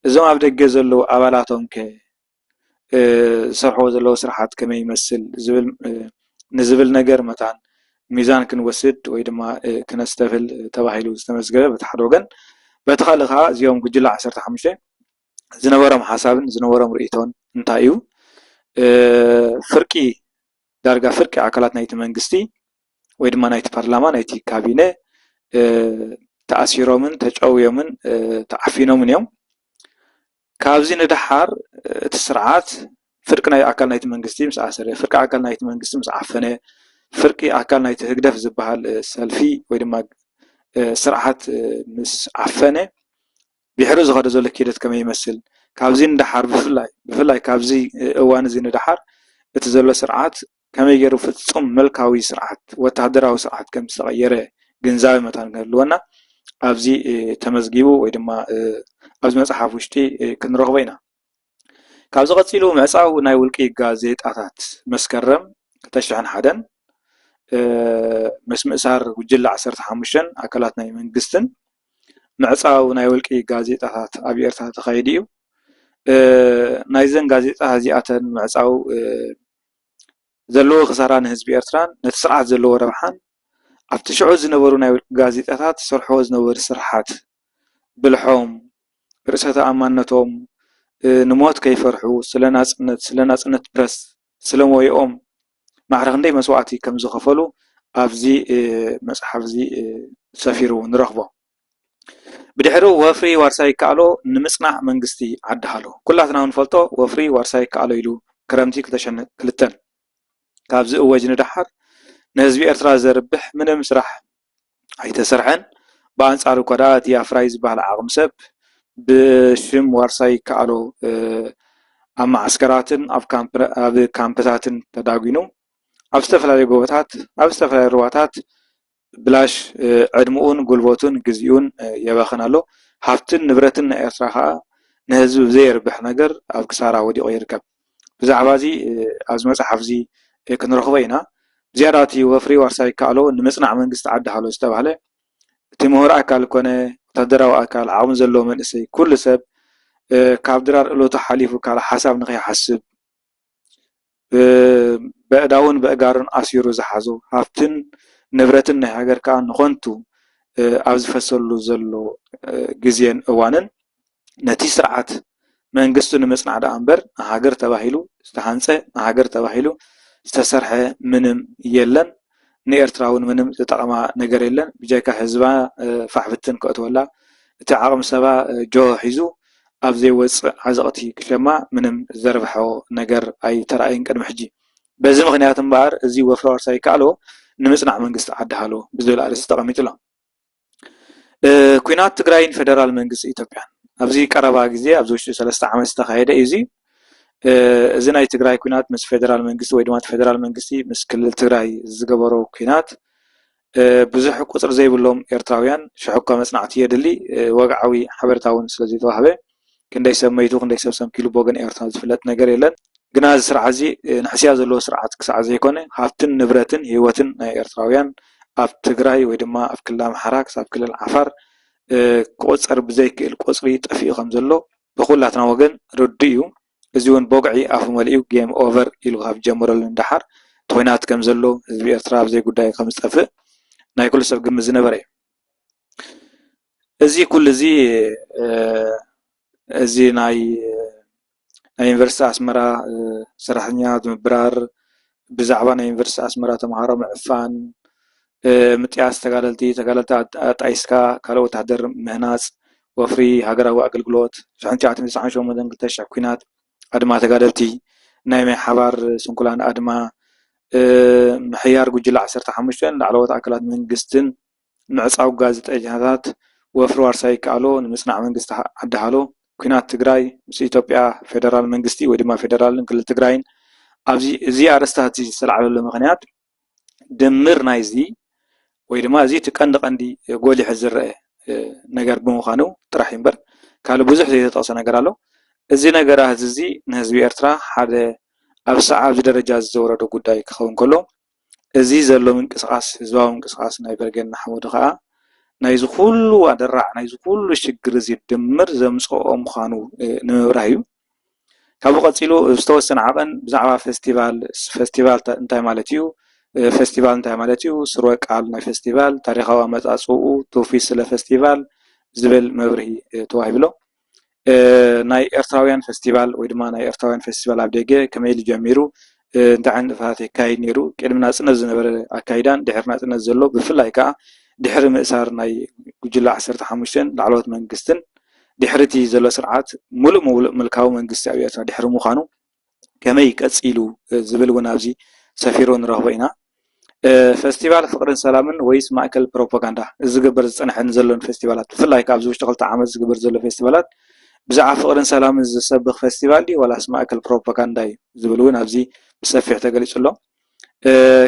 እዞም ኣብ ደገ ዘለዉ ኣባላቶም ከ ዝሰርሕዎ ዘለዉ ስርሓት ከመይ ይመስል ዝብል ንዝብል ነገር መታን ሚዛን ክንወስድ ወይ ድማ ክነስተብህል ተባሂሉ ዝተመዝገበ በቲ ሓደ ወገን በቲ ካልእ ከኣ እዚኦም ጉጅለ ዓሰርተ ሓሙሽተ ዝነበሮም ሓሳብን ዝነበሮም ርእይቶን እንታይ እዩ? ፍርቂ ዳርጋ ፍርቂ ኣካላት ናይቲ መንግስቲ ወይ ድማ ናይቲ ፓርላማ ናይቲ ካቢነ ተኣሲሮምን ተጨውዮምን ተዓፊኖምን እዮም። ካብዚ ንደሓር እቲ ስርዓት ፍርቂ ናይ ኣካል ናይቲ መንግስቲ ምስ ኣሰረ፣ ፍርቂ ኣካል ናይቲ መንግስቲ ምስ ዓፈነ፣ ፍርቂ ኣካል ናይቲ ህግደፍ ዝበሃል ሰልፊ ወይ ድማ ስርዓት ምስ ዓፈነ፣ ድሕሪ ዝኸዶ ዘሎ ኪደት ከመይ ይመስል ካብዚ ንደሓር ብፍላይ ብፍላይ ካብዚ እዋን እዚ ንደሓር እቲ ዘሎ ስርዓት ከመይ ገይሩ ፍፁም ምልካዊ ስርዓት ወታደራዊ ስርዓት ከም ዝተቐየረ ግንዛበ መታን ክህልወና ኣብዚ ተመዝጊቡ ወይ ድማ ኣብዚ መፅሓፍ ውሽጢ ክንረኽቦ ኢና። ካብዚ ቀፂሉ ምዕፃው ናይ ውልቂ ጋዜጣታት መስከረም ክልተ ሽሕን ሓደን ምስ ምእሳር ጉጅለ ዓሰርተ ሓሙሽተን ኣካላት ናይ መንግስትን ምዕፃው ናይ ውልቂ ጋዜጣታት ኣብ ኤርትራ ተኻይዱ እዩ። ናይዘን ጋዜጣ እዚኣተን ምዕፃው ዘለዎ ክሳራ ንህዝቢ ኤርትራን ነቲ ስርዓት ዘለዎ ረብሓን ኣብቲ ሽዑ ዝነበሩ ናይ ውልቂ ጋዜጣታት ዝሰርሕዎ ዝነበሩ ስርሓት ብልሖም ርእሰ ተኣማንነቶም ንሞት ከይፈርሑ ስለ ናጽነት ስለ ናጽነት ፕረስ ስለ ሞያኦም ማዕረ ክንደይ መስዋእቲ ከም ዝኸፈሉ ኣብዚ መጽሓፍ እዚ ሰፊሩ ንረኽቦ። ብድሕሩ ወፍሪ ዋርሳይ ይከኣሎ ንምጽናዕ መንግስቲ ዓዲ ሃሎ ኩላትና ንፈልጦ ወፍሪ ዋርሳይ ይከኣሎ ኢሉ ክረምቲ ክልተሸነ ክልተን ካብ ዝእወጅ ንደሓር ንህዝቢ ኤርትራ ዘርብሕ ምንም ስራሕ ኣይተሰርሐን ብኣንጻሩ እኳ ድኣ እቲ ኣፍራዪ ዝበሃል ዓቕሚ ሰብ ብሽም ዋርሳይ ይከኣሎ ኣብ መዓስከራትን ኣብ ካምፕታትን ተዳጒኑ ኣብ ዝተፈላለዩ ጎቦታት ኣብ ዝተፈላለዩ ሩባታት ብላሽ ዕድምኡን ጉልበቱን ግዚኡን የባኽን ኣሎ። ሃፍትን ንብረትን ናይ ኤርትራ ከኣ ንህዝቢ ብዘየርብሕ ነገር ኣብ ክሳራ ወዲቑ ይርከብ። ብዛዕባዚ ኣብዚ መጽሓፍዚ ክንረኽቦ ኢና። ብዝያዳ እቲ ወፍሪ ዋርሳይ ይከኣሎ ንምጽናዕ መንግስቲ ዓዲ ሃሎ ዝተባህለ እቲ ምሁር ኣካል ኮነ ወታደራዊ ኣካል ዓቕሚ ዘለዎ መንእሰይ ኩሉ ሰብ ካብ ድራር እለቱ ሓሊፉ ካልእ ሓሳብ ንኸይሓስብ ብኣእዳዉን ብኣእጋሩን ኣሲሩ ዝሓዞ ሃፍትን ንብረትን ናይ ሃገር ክኣ ንኸንቱ ኣብ ዝፈሰሉ ዘሎ ግዜን እዋንን ነቲ ስርዓት መንግስቲ ንምጽናዕ ድኣ እምበር ንሃገር ተባሂሉ ዝተሃንጸ ንሃገር ተባሂሉ ዝተሰርሐ ምንም የለን። ንኤርትራ ውን ምንም ዝጠቕማ ነገር የለን ብጀካ ህዝባ ፋሕ ብትን ከእትወላ እቲ ዓቕሚ ሰባ ጆሆ ሒዙ ኣብ ዘይወጽእ ዓዘቕቲ ክሸማ ምንም ዘርብሖ ነገር ኣይተራእየን ቅድሚ ሕጂ በዚ ምኽንያት እምበኣር እዚ ወፍሪ ዋርሳይ ይከኣሎ ንምጽናዕ መንግስቲ ዓዲ ሃሎ ብዝብል ኣርእስቲ ተቐሚጡ'ሎ። ኩናት ትግራይን ፌደራል መንግስቲ ኢትዮጵያን ኣብዚ ቀረባ ግዜ ኣብዚ ውሽጢ ሰለስተ ዓመት ዝተኻየደ እዩ እዚ። እዚ ናይ ትግራይ ኩናት ምስ ፌደራል መንግስቲ ወይ ድማ ፌደራል መንግስቲ ምስ ክልል ትግራይ ዝገበሮ ኩናት ብዙሕ ቁፅሪ ዘይብሎም ኤርትራውያን ሽሕኳ መፅናዕቲ የድሊ ወግዓዊ ሓበሬታ እውን ስለዘይተዋህበ ክንደይ ሰብ መይቱ ክንደይ ሰብ ሰንኪሉ ብወገን ኤርትራ ዝፍለጥ ነገር የለን። ግና እዚ ስርዓት እዚ ንሕስያ ዘለዎ ስርዓት ክሳዕ ዘይኮነ ሃፍትን ንብረትን ህይወትን ናይ ኤርትራውያን ኣብ ትግራይ ወይ ድማ ኣብ ክልል ኣምሓራ ክሳብ ክልል ዓፋር ክቑፀር ብዘይክእል ቁፅሪ ጠፊኡ ከም ዘሎ ብኹላትና ወገን ርዱእ እዩ። እዚ እውን ቦግዒ ኣፉ መሊኡ ጌም ኦቨር ኢሉ ካብ ዝጀመረሉ ንደሓር ቶይናት ከም ዘሎ ህዝቢ ኤርትራ ኣብ ዘይጉዳዩ ከም ዝጠፍእ ናይ ኩሉ ሰብ ግምት ዝነበረ እዩ። እዚ ኩሉ እዚ እዚ ናይ ዩኒቨርስቲ ኣስመራ ሰራሕተኛታት ምብራር፣ ብዛዕባ ናይ ዩኒቨርስቲ ኣስመራ ተምሃሮ ምዕፋን፣ ምጥያስ ተጋደልቲ፣ ተጋደልቲ ኣጣይስካ ካልእ ወተሃደር ምህናጽ፣ ወፍሪ ሃገራዊ ኣገልግሎት፣ ሽሕን ትሽዓተ ሚእትን ትስዓን ሸሞንተን ክልተ ሽሕ ኲናት፣ ኣድማ ተጋደልቲ፣ ናይ ማይ ሓባር ስንኩላን ኣድማ፣ ምሕያር ጉጅለ ዓሰርተ ሓሙሽተን ላዕለዎት ኣካላት መንግስትን፣ ምዕፃው ጋዜጠኛታት ወፍሪ ዋርሳይ ይከኣሎ ንምፅናዕ መንግስቲ ዓዲ ሃሎ ኲናት ትግራይ ምስ ኢትዮጵያ ፌደራል መንግስቲ ወይ ድማ ፌደራል ክልል ትግራይን ኣብዚ እዚ ኣርእስታት እዚ ዝተላዕለሉ ምኽንያት ድምር ናይዚ ወይ ድማ እዚ እቲ ቀንዲ ቀንዲ ጎሊሑ ዝረአ ነገር ብምዃኑ ጥራሕ እዩ እምበር ካልእ ብዙሕ ዘይተጠቕሰ ነገር ኣሎ። እዚ ነገራት እዚ ንህዝቢ ኤርትራ ሓደ ኣብ ሰዓብ ደረጃ ዘውረዶ ጉዳይ ክኸውን ከሎ እዚ ዘሎ ምንቅስቓስ ህዝባዊ ምንቅስቓስ ናይ በርገድ ንሓመዱ ኸኣ ናይዚ ኹሉ ኣደራዕ ናይዚ ኹሉ ሽግር እዚ ድምር ዘምጸኦ ምዃኑ ንምብራህ እዩ። ካብኡ ቀጺሉ ዝተወሰነ ዓቐን ብዛዕባ ፈስቲቫል ፈስቲቫል እንታይ ማለት እዩ ፈስቲቫል እንታይ ማለት እዩ ስረ ቃል ናይ ፈስቲቫል ታሪኻዊ ኣመጻጽእኡ ትውፊት ስለ ፈስቲቫል ዝብል መብርሂ ተዋሂቡ ኣሎ። ናይ ኤርትራውያን ፈስቲቫል ወይ ድማ ናይ ኤርትራውያን ፈስቲቫል ኣብ ደገ ከመይ ኢሉ ጀሚሩ? እንታይ ዓይነት ንጥፈታት የካይድ ነይሩ? ቅድሚ ናጽነት ዝነበረ ኣካይዳን ድሕሪ ናጽነት ዘሎ ብፍላይ ከኣ ድሕሪ ምእሳር ናይ ጉጅለ ዓሰርተ ሓሙሽተን ላዕለዎት መንግስትን ድሕሪ እቲ ዘሎ ስርዓት ምሉእ ምሉእ ምልካዊ መንግስቲ ኣብ ኤርትራ ድሕሪ ምዃኑ ከመይ ቀጺሉ ዝብል እውን ኣብዚ ሰፊሩ ንረኽቦ ኢና። ፈስቲቫል ፍቕርን ሰላምን ወይስ ማእከል ፕሮፓጋንዳ? እዚ ዝግበር ዝጸንሐን ዘሎን ፈስቲቫላት ብፍላይ ከኣ ኣብዚ ውሽጢ ክልተ ዓመት ዝግበር ዘሎ ፈስቲቫላት ብዛዕባ ፍቕርን ሰላምን ዝሰብኽ ፈስቲቫል ድዩ ዋላስ ማእከል ፕሮፓጋንዳ እዩ ዝብል እውን ኣብዚ ብሰፊሕ ተገሊጹ ኣሎ።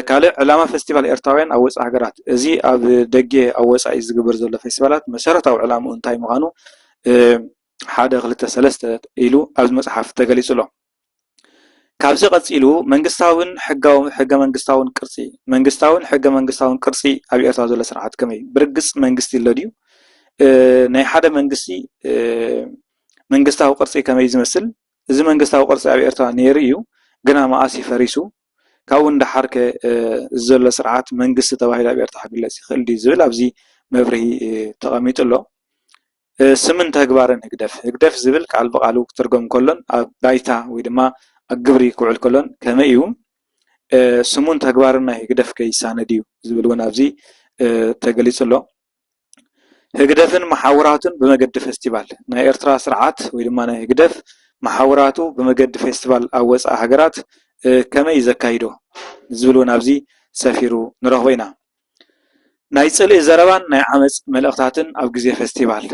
ካልእ ዕላማ ፈስቲቫል ኤርትራውያን ኣብ ወጻኢ ሃገራት እዚ ኣብ ደጌ ኣብ ወጻኢ ዝግበር ዘሎ ፌስቲቫላት መሰረታዊ ዕላምኡ እንታይ ምዃኑ ሓደ ክልተ ሰለስተ ኢሉ ኣብዚ መጽሓፍ ተገሊጹ ኣሎ። ካብዚ ቀጺሉ መንግስታዊን ሕጋዊ ሕገ መንግስታውን ቅርጺ መንግስታዊን ሕገ መንግስታውን ቅርጺ ኣብ ኤርትራ ዘሎ ስርዓት ከመይ እዩ? ብርግጽ መንግስቲ ኣሎ ድዩ? ናይ ሓደ መንግስቲ መንግስታዊ ቅርጺ ከመይ ዝመስል እዚ መንግስታዊ ቅርጺ ኣብ ኤርትራ ነይሩ እዩ ግና መኣስ ፈሪሱ ካብኡ ንደሓር ከ ዘሎ ስርዓት መንግስቲ ተባሂሉ ኣብ ኤርትራ ክግለጽ ይኽእል ድዩ ዝብል ኣብዚ መብርሂ ተቐሚጡ ኣሎ። ስምን ተግባርን ህግደፍ፣ ህግደፍ ዝብል ቃል ብቓሉ ክትርጎም ከሎን ኣብ ባይታ ወይ ድማ ኣብ ግብሪ ክውዕል ከሎን ከመይ ኢዩ? ስሙን ተግባርን ናይ ህግደፍ ከ ይሳነ ድዩ? ዝብል እውን ኣብዚ ተገሊጹ ኣሎ። ህግደፍን መሓውራቱን ብመገዲ ፈስቲቫል፣ ናይ ኤርትራ ስርዓት ወይ ድማ ናይ ህግደፍ መሓውራቱ ብመገዲ ፌስቲቫል ኣብ ወጻኢ ሃገራት ከመይ ኢዩ ዘካይዶ? ዝብል እውን ኣብዚ ሰፊሩ ንረኽቦ ኢና። ናይ ፅልኢ ዘረባን ናይ ዓመፅ መልእኽታትን ኣብ ግዜ ፈስቲቫል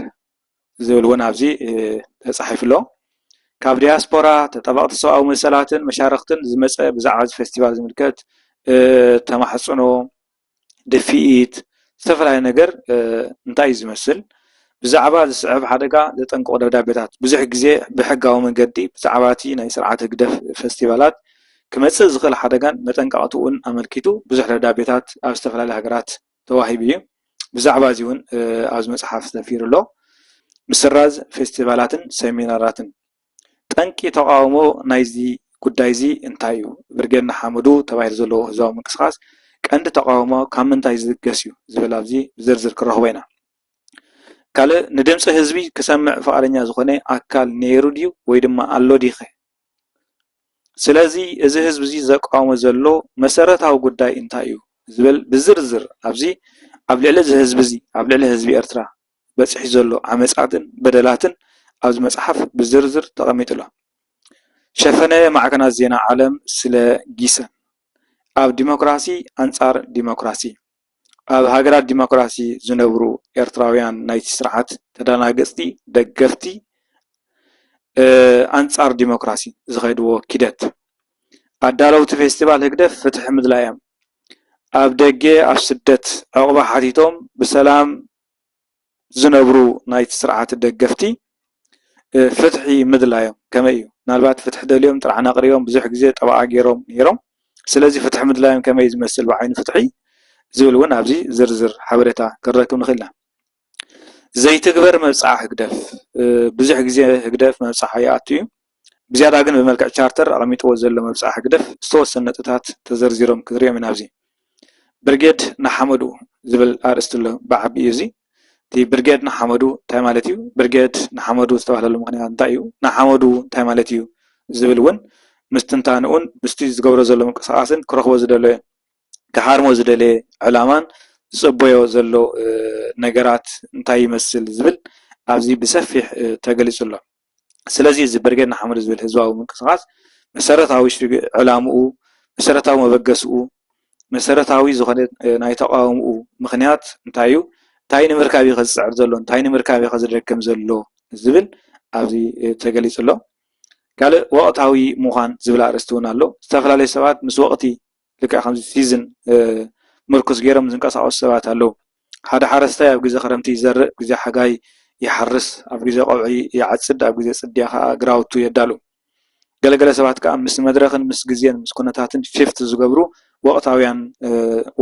ዝብል እውን ኣብዚ ተፃሒፉ ኣሎ። ካብ ዲያስፖራ፣ ተጣበቕቲ ሰብኣዊ መሰላትን መሻርኽትን ዝመፀ ብዛዕባ እዚ ፈስቲቫል ዝምልከት ተማሕፅኖ፣ ድፍኢት ዝተፈላለየ ነገር እንታይ እዩ ዝመስል? ብዛዕባ ዝስዕብ ሓደጋ ዘጠንቅቑ ደብዳቤታት ብዙሕ ግዜ ብሕጋዊ መንገዲ ብዛዕባ እቲ ናይ ስርዓት ህግደፍ ፈስቲቫላት ክመፅእ ዝኽእል ሓደጋን መጠንቀቕትኡን ኣመልኪቱ ብዙሕ ደብዳቤታት ኣብ ዝተፈላለዩ ሃገራት ተዋሂቡ እዩ። ብዛዕባ እዚ እውን ኣብዚ መፅሓፍ ሰፊሩ ኣሎ። ምስራዝ ፌስቲቫላትን ሰሚናራትን ጠንቂ ተቓውሞ ናይዚ ጉዳይ እዚ እንታይ እዩ? ብርጌድ ንሓመዱ ተባሂሉ ዘለዎ ህዝባዊ ምንቅስቓስ ቀንዲ ተቓውሞ ካብ ምንታይ ዝብገስ እዩ? ዝብል ኣብዚ ብዝርዝር ክንረኽቦ ኢና። ካልእ ንድምፂ ህዝቢ ክሰምዕ ፍቓደኛ ዝኾነ ኣካል ነይሩ ድዩ ወይ ድማ ኣሎ ድይኸ ስለዚ እዚ ህዝቢ እዚ ዘቃውሞ ዘሎ መሰረታዊ ጉዳይ እንታይ እዩ ዝብል ብዝርዝር ኣብዚ ኣብ ልዕሊ እዚ ህዝቢ እዚ ኣብ ልዕሊ ህዝቢ ኤርትራ በጺሑ ዘሎ ዓመጻትን በደላትን ኣብዚ መጽሓፍ ብዝርዝር ተቐሚጡ ኣሎ። ሸፈነ ማዕከናት ዜና ዓለም ስለ ጊሰን ኣብ ዲሞክራሲ ኣንጻር ዲሞክራሲ። ኣብ ሃገራት ዲሞክራሲ ዝነብሩ ኤርትራውያን ናይቲ ስርዓት ተደናገጽቲ ደገፍቲ ኣንጻር ዲሞክራሲ ዝኸድዎ ኪደት ኣዳለውቲ ፌስቲቫል ህግደፍ ፍትሒ ምድላይ'ዮም ኣብ ደገ ኣብ ስደት ዑቕባ ሓቲቶም ብሰላም ዝነብሩ ናይቲ ስርዓት ደገፍቲ ፍትሒ ምድላዮም ከመይ እዩ? ምናልባት ፍትሒ ደልዮም ጥርዓን ኣቕሪቦም ብዙሕ ግዜ ጠበቓ ገይሮም ነይሮም። ስለዚ ፍትሒ ምድላዮም ከመይ እዩ ዝመስል ብዓይኒ ፍትሒ ዝብል እውን ኣብዚ ዝርዝር ሓበሬታ ክንረክብ ንኽእል ኢና። ዘይትግበር መብጽዓ ህግደፍ ብዙሕ ግዜ ህግደፍ መብጽዓ ይኣቱ እዩ። ብዝያዳ ግን ብመልክዕ ቻርተር ኣቐሚጥዎ ዘሎ መብጽዓ ህግደፍ ዝተወሰኑ ነጥብታት ተዘርዚሮም ክንርእዮም ኢና ኣብዚ ብርጌድ ንሓመዱ ዝብል ኣርእስቲ ኣሎ ብዓቢኡ እዚ እቲ ብርጌድ ንሓመዱ እንታይ ማለት እዩ ብርጌድ ንሓመዱ ዝተባህለሉ ምኽንያት እንታይ እዩ ንሓመዱ እንታይ ማለት እዩ ዝብል እውን ምስ ትንታንኡን ምስቲ ዝገብሮ ዘሎ ምንቅስቓስን ክረኽቦ ዝደለየ ክሃርሞ ዝደለየ ዕላማን ዝጽበዮ ዘሎ ነገራት እንታይ ይመስል ዝብል ኣብዚ ብሰፊሕ ተገሊጹ ኣሎ ስለዚ እዚ ብርጌድ ንሓመዱ ዝብል ህዝባዊ ምንቅስቓስ መሰረታዊ ዕላምኡ፣ መሰረታዊ መበገስኡ፣ መሰረታዊ ዝኾነ ናይ ተቓውምኡ ምኽንያት እንታይ እዩ፣ እንታይ ንምርካብ እዩ ዝፅዕር ዘሎ፣ እንታይ ንምርካብ እዩ ዝደክም ዘሎ ዝብል ኣብዚ ተገሊፁ ኣሎ። ካልእ ወቕታዊ ምዃን ዝብል ኣርእስቲ እውን ኣሎ። ዝተፈላለዩ ሰባት ምስ ወቕቲ ልክዕ ከምዚ ሲዝን ምርኩስ ገይሮም ዝንቀሳቐሱ ሰባት ኣለዉ። ሓደ ሓረስታይ ኣብ ግዜ ክረምቲ ይዘርእ፣ ግዜ ሓጋይ ይሓርስ፣ ኣብ ግዜ ቀውዒ ይዓጽድ፣ ኣብ ግዜ ጽድያ ከኣ ግራውቱ የዳሉ። ገለ ገለ ሰባት ከኣ ምስ መድረኽን ምስ ግዜን ምስ ኩነታትን ሺፍት ዝገብሩ ወቕታውያን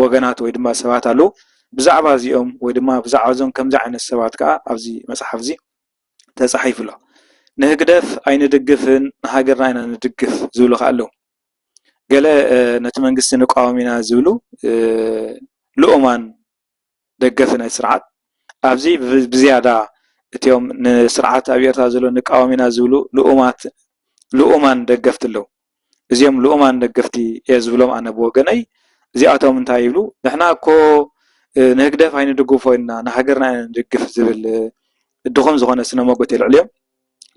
ወገናት ወይ ድማ ሰባት ኣለዉ። ብዛዕባ እዚኦም ወይ ድማ ብዛዕባ እዞም ከምዚ ዓይነት ሰባት ከኣ ኣብዚ መጽሓፍ እዚ ተጻሒፉ ኣሎ። ንህግደፍ ኣይንድግፍን ንሃገርና ኢና ንድግፍ ዝብሉ ከኣ ኣለዉ። ገለ ነቲ መንግስቲ ንቃወም ኢና ዝብሉ ልኡማን ደገፍቲ ናይቲ ስርዓት ኣብዚ ብዝያዳ እቶም ንስርዓት ኣብ ኤርትራ ዘሎ ንቃወም ኢና ዝብሉ ልኡማት ልኡማን ደገፍቲ ኣለዉ። እዚኦም ልኡማን ደገፍቲ እየ ዝብሎም ኣነ ብወገነይ እዚኣቶም እንታይ ይብሉ ንሕና እኮ ንህግደፍ ኣይንድግፎ ኢልና ንሃገርና ኢና ንድግፍ ዝብል ድኹም ዝኾነ ስነ ሞጎት የልዕሉ እዮም።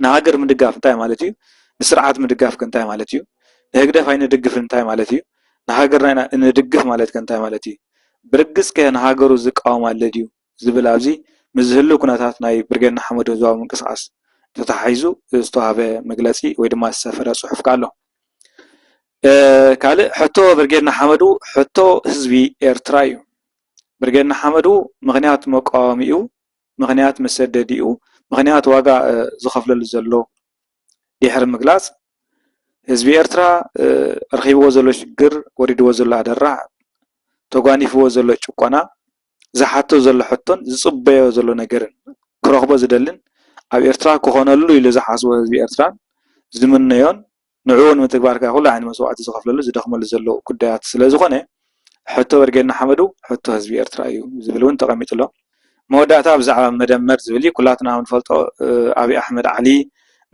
ንሃገር ምድጋፍ እንታይ ማለት እዩ? ንስርዓት ምድጋፍከ እንታይ ማለት እዩ? ንህግደፍ ኣይንድግፍን እንታይ ማለት እዩ? ንሃገርና ኢና እንድግፍ ማለትከ እንታይ ማለት እዩ? ብርግጽከ ንሃገሩ ዝቃወም ኣሎ ድዩ? ዝብል ኣብዚ ምስዚ ህሉው ኩነታት ናይ ብርጌድ ንሓመዱ ህዝባዊ ምንቅስቓስ ተተሓሒዙ ዝተዋህበ መግለጺ ወይ ድማ ዝሰፈረ ጽሑፍከ ኣሎ። ካልእ ሕቶ ብርጌድ ንሓመዱ ሕቶ ህዝቢ ኤርትራ እዩ። ብርጌድ ንሓመዱ ምኽንያት መቃወሚኡ ምኽንያት መሰደዲኡ ምኽንያት ዋጋ ዝኸፍለሉ ዘሎ ዲሕሪ ምግላጽ ህዝቢ ኤርትራ ረኺብዎ ዘሎ ሽግር ወሪድዎ ዘሎ ኣደራዕ ተጓኒፍዎ ዘሎ ጭቆና ዝሓቶ ዘሎ ሕቶን ዝጽበዮ ዘሎ ነገርን ክረኽቦ ዝደልን ኣብ ኤርትራ ክኾነሉ ኢሉ ዝሓስቦ ህዝቢ ኤርትራን ዝምነዮን ንዕኡ ንምትግባር ከኣ ኩሉ ዓይነት መስዋእቲ ዝኸፍለሉ ዝደኽመሉ ዘሎ ጉዳያት ስለዝኾነ ሕቶ ብርጌድ ንሓመዱ ሕቶ ህዝቢ ኤርትራ እዩ ዝብል እውን ተቐሚጡ ኣሎ። መወዳእታ ብዛዕባ መደመር ዝብል እዩ። ኩላትና ከምንፈልጦ ኣብይ ኣሕመድ ዓሊ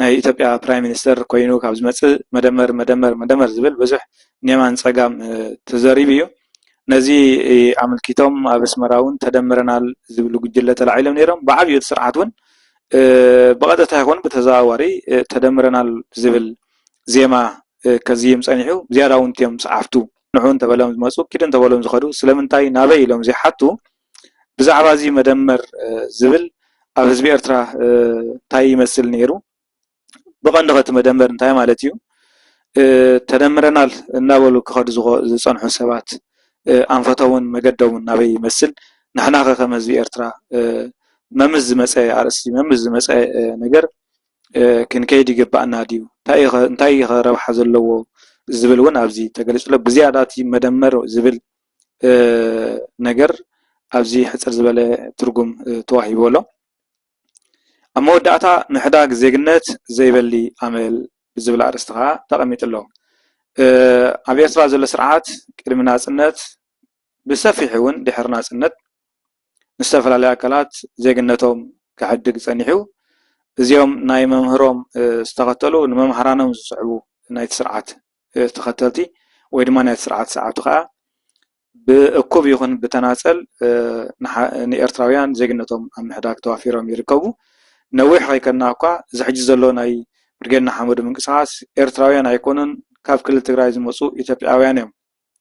ናይ ኢትዮጵያ ፕራይም ሚኒስተር ኮይኑ ካብ ዝመጽእ መደመር መደመር መደመር ዝብል ብዙሕ ንየማን ንጸጋም ተዘሪቡ እዩ። ነዚ ኣመልኪቶም ኣብ ኣስመራ እውን ተደምረናል ዝብሉ ጉጅለ ተላዒሎም ነይሮም። ብዓብዩ እቲ ስርዓት እውን ብቐጥታ ይኹን ብተዘዋዋሪ ተደምረናል ዝብል ዜማ ከዝይም ጸኒሑ። ዝያዳ እውን እትም ጸሓፍቱ ንዑ እንተበሎም ዝመጹ ኪዱ እንተበሎም ዝኸዱ ስለምንታይ ናበይ ኢሎም ዘይሓቱ ብዛዕባ እዚ መደመር ዝብል ኣብ ህዝቢ ኤርትራ እንታይ ይመስል ነይሩ? ብቐንዱ ከ እቲ መደመር እንታይ ማለት እዩ? ተደምረናል እናበሉ ክኸዱ ዝጸንሑ ሰባት ኣንፈቶምን መገዶምን ናበይ ይመስል? ንሕና ከ ከም ህዝቢ ኤርትራ መምስ ዝመጸ ኣርእስቲ መምስ ዝመጸ ነገር ክንከይድ ይግበኣና ድዩ? እንታይ እዩ ከ ረብሓ ዘለዎ ዝብል እውን ኣብዚ ተገሊጹ ኣሎ። ብዝያዳ እቲ መደመር ዝብል ነገር ኣብዚ ሕጽር ዝበለ ትርጉም ተዋሂብዎ ኣሎ። ኣብ መወዳእታ ምሕዳግ ዜግነት ዘይበሊ ኣመል ብዝብል ኣርእስቲ ከኣ ተቐሚጡ ኣሎ። ኣብ ኤርትራ ዘሎ ስርዓት ቅድሚ ናጽነት ብሰፊሑ እውን ድሕሪ ናጽነት ንዝተፈላለዩ ኣካላት ዜግነቶም ክሕድግ ጸኒሑ እዩ። እዚኦም ናይ መምህሮም ዝተኸተሉ ንመምሃራኖም ዝስዕቡ ናይቲ ስርዓት ተኸተልቲ ወይ ድማ ናይቲ ስርዓት ዝሰዓብቱ ከኣ ብእኩብ ይኹን ብተናፀል ንኤርትራውያን ዜግነቶም ኣብ ምሕዳግ ተዋፊሮም ይርከቡ። ነዊሕ ከይከድና እኳ እዚ ሕጂ ዘሎ ናይ ብርጌድ ንሓመዱ ምንቅስቓስ ኤርትራውያን ኣይኮኑን ካብ ክልል ትግራይ ዝመፁ ኢትዮጵያውያን እዮም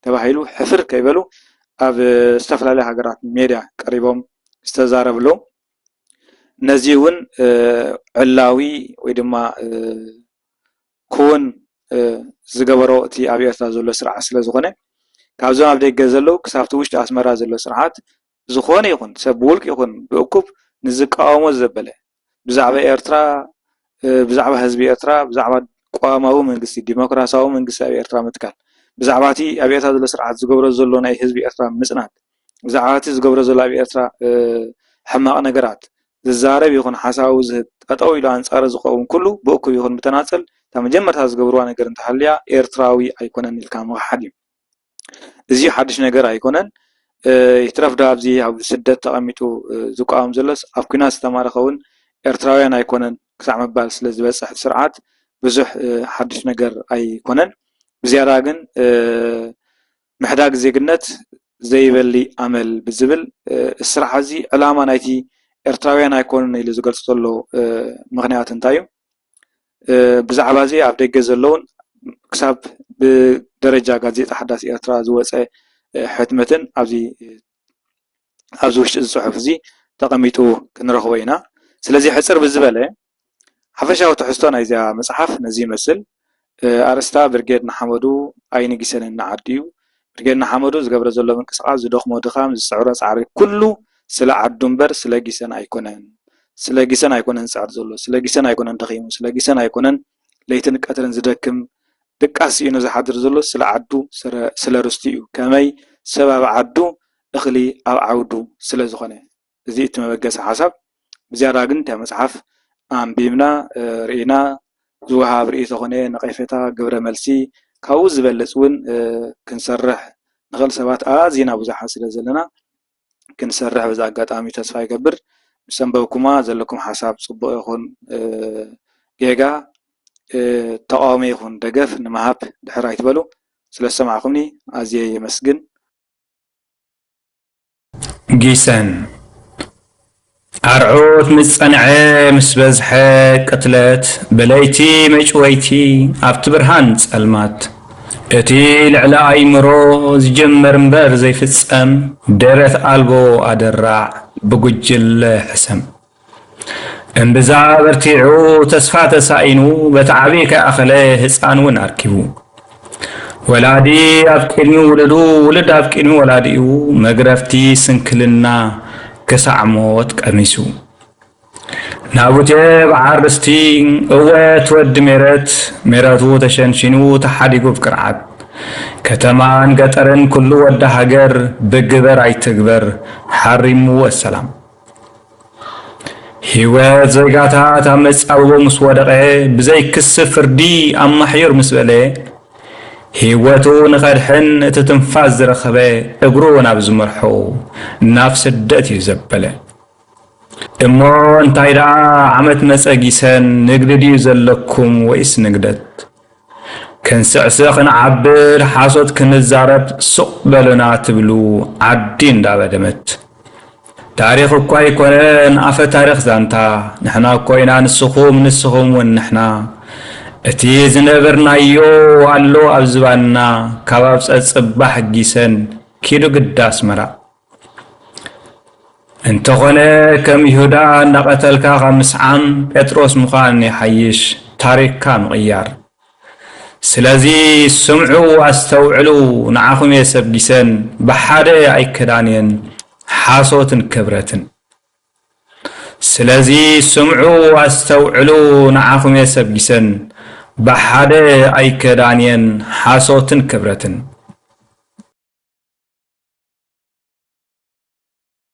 ተባሂሉ ሕፍር ከይበሉ ኣብ ዝተፈላለያ ሃገራት ሜድያ ቀሪቦም ዝተዛረቡ ኣለው። ነዚ እውን ዕላዊ ወይ ድማ ክዉን ዝገበሮ እቲ ኣብ ኤርትራ ዘሎ ስርዓት ስለ ዝኾነ ካብዞም ኣብ ደገ ዘለዉ ክሳብቲ ዉሽጢ ኣስመራ ዘሎ ስርዓት ዝኾነ ይኹን ሰብ ብዉልቂ ይኹን ብእኩብ ንዝቃወሞ ዘበለ ብዛዕባ ኤርትራ ብዛዕባ ህዝቢ ኤርትራ ብዛዕባ ቅዋማዊ መንግስቲ ዲሞክራሳዊ መንግስቲ ኣብ ኤርትራ ምትካል ብዛዕባ እቲ ኣብ ኤርትራ ዘሎ ስርዓት ዝገብሮ ዘሎ ናይ ህዝቢ ኤርትራ ምጽናት ብዛዕባ እቲ ዝገብሮ ዘሎ ኣብ ኤርትራ ሕማቕ ነገራት ዝዛረብ ይኹን ሓሳቡ ዝህብ፣ ጠጠው ኢሉ ኣንጻሩ ዝቐውም ኩሉ ብእኩብ ይኹን ብተናጸል እታ መጀመርታ ዝገብርዋ ነገር እንተሃልያ ኤርትራዊ ኣይኮነን ኢልካ ምኽሓድ እዩ። እዚዩ ሓዱሽ ነገር ኣይኮነን። ይትረፍ ዶ ኣብዚ ኣብ ስደት ተቐሚጡ ዝቋወም ዘሎስ ኣብ ኩናት ዝተማረኸ እውን ኤርትራውያን ኣይኮነን ክሳዕ ምባል ስለ ዝበጽሕ ስርዓት ብዙሕ ሓዱሽ ነገር ኣይኮነን። ብዝያዳ ግን ምሕዳግ ዜግነት ዘይበሊ ኣመል ብዝብል እስራዕ እዚ ዕላማ ናይቲ ኤርትራውያን ኣይኮኑን ኢሉ ዝገልጾ ዘሎ ምኽንያት እንታይ እዩ? ብዛዕባ እዚ ኣብ ደገ ዘለዉን ክሳብ ብደረጃ ጋዜጣ ሓዳስ ኤርትራ ዝወጸ ሕትመትን ኣብዚ ኣብዚ ውሽጢ እዚ ጽሑፍ እዚ ተቐሚጡ ክንረኽቦ ኢና። ስለዚ ሕጽር ብዝበለ ሓፈሻዊ ትሕዝቶ ናይዛ መጽሓፍ ነዚ ይመስል። ኣርእስታ ብርጌድ ንሓመዱ ኣይንጊሰንን ንዓዱ እዩ። ብርጌድ ንሓመዱ ዝገብሮ ዘሎ ምንቅስቓስ ዝደኽሞ ድኻም ዝጽዕሮ ጻዕሪ ኩሉ ስለ ዓዱ እምበር ስለ ጊሰን ኣይኮነን። ስለ ጊሰን ኣይኮነን ዝጽዕር ዘሎ ስለ ጊሰን ኣይኮነን ደኺሙ ስለ ጊሰን ኣይኮነን ለይትን ቀትርን ዝደክም ድቃስ ስኢኑ ዝሓድር ዘሎ ስለ ዓዱ ስለ ርስቱ እዩ። ከመይ ሰብ ኣብ ዓዱ እኽሊ ኣብ ዓውዱ ስለ ዝኾነ። እዚ እቲ መበገሲ ሓሳብ ብዝያዳ ግን እታ መጽሓፍ ኣንቢብና ርኢና ዝወሃብ ርእይቶ ኮነ ነቐፌታ ግብረ መልሲ ካብኡ ዝበልጽ ውን ክንሰርሕ ንኽእል ሰባት ኣዚና ብዙሓት ስለ ዘለና ክንሰርሕ በዚ ኣጋጣሚ ተስፋ ይገብር። ምስ ኣንበብኩማ ዘለኩም ሓሳብ ጽቡቕ ይኹን ጌጋ ተቓውሞ ይኹን ደገፍ ንምሃብ ድሕር ኣይትበሉ። ስለ ዝሰማዕኩምኒ ኣዝየ የመስግን። ጊሰን ኣርዑት ምስ ጸንዐ ምስ በዝሐ ቅትለት ብለይቲ መጭወይቲ ኣብቲ ብርሃን ጸልማት እቲ ልዕሊ ኣይምሮ ዝጅምር እምበር ዘይፍጸም ደረት ኣልቦ ኣደራዕ ብጉጅለ ሕሰም። እምብዛ በርቲዑ ተስፋ ተሳኢኑ በቲ ዓብዪ ከይኣኸለ ህፃን እውን ኣርኪቡ ወላዲ ኣብ ቅድሚ ውልዱ ውልድ ኣብ ቅድሚ ወላዲኡ መግረፍቲ ስንክልና ክሳዕ ሞት ቀሚሱ ናቡቴ በዓል ርስቲ እወት ወዲ ሜረት ሜረቱ ተሸንሺኑ ተሓዲጉ ብቅርዓት ከተማን ገጠርን ኩሉ ወዲ ሃገር ብግበር ኣይትግበር ሓሪሙ ወሰላም ህይወት ዜጋታት ኣብ መጻብቦ ምስ ወደቐ ብዘይ ክሲ ፍርዲ ኣብ ማሕዩር ምስ በለ ህይወቱ ንኸድሕን እቲ ትንፋስ ዝረኸበ እግሩ ናብ ዝመርሖ ናብ ስደት እዩ ዘበለ። እሞ እንታይ ደኣ ዓመት መጸ ጊሰን ንግዲ ድዩ ዘለኩም ወይስ ንግደት? ክንስዕስዕ ክንዓብር ሓሶት ክንዛረብ ሱቕ በሉና ትብሉ ዓዲ እንዳበደመት ታሪኽ እኳ ኣይኮነ ንኣፈ ታሪኽ ዛንታ ንሕና እኮ ኢና ንስኹም ንስኹም ውን ንሕና እቲ ዝነበርናዮ ኣሎ ኣብ ዝባንና ካብ ኣብፀ ፅባሕ ጊሰን ኪዱ ግዳ ኣስመራ እንተኾነ ከም ይሁዳ እናቐተልካ ካብ ምስዓም ጴጥሮስ ምዃን ይሓይሽ፣ ታሪኽካ ምቕያር። ስለዚ ስምዑ ኣስተውዕሉ፣ ንዓኹም እየ ሰብጊሰን፣ ብሓደ ኣይከዳን እየን፣ ሓሶትን ክብረትን። ስለዚ ስምዑ ኣስተውዕሉ ንዓኹም'የ ሰጊሰን ብሓደ ኣይከዳን'የን ሓሶትን ክብረትን።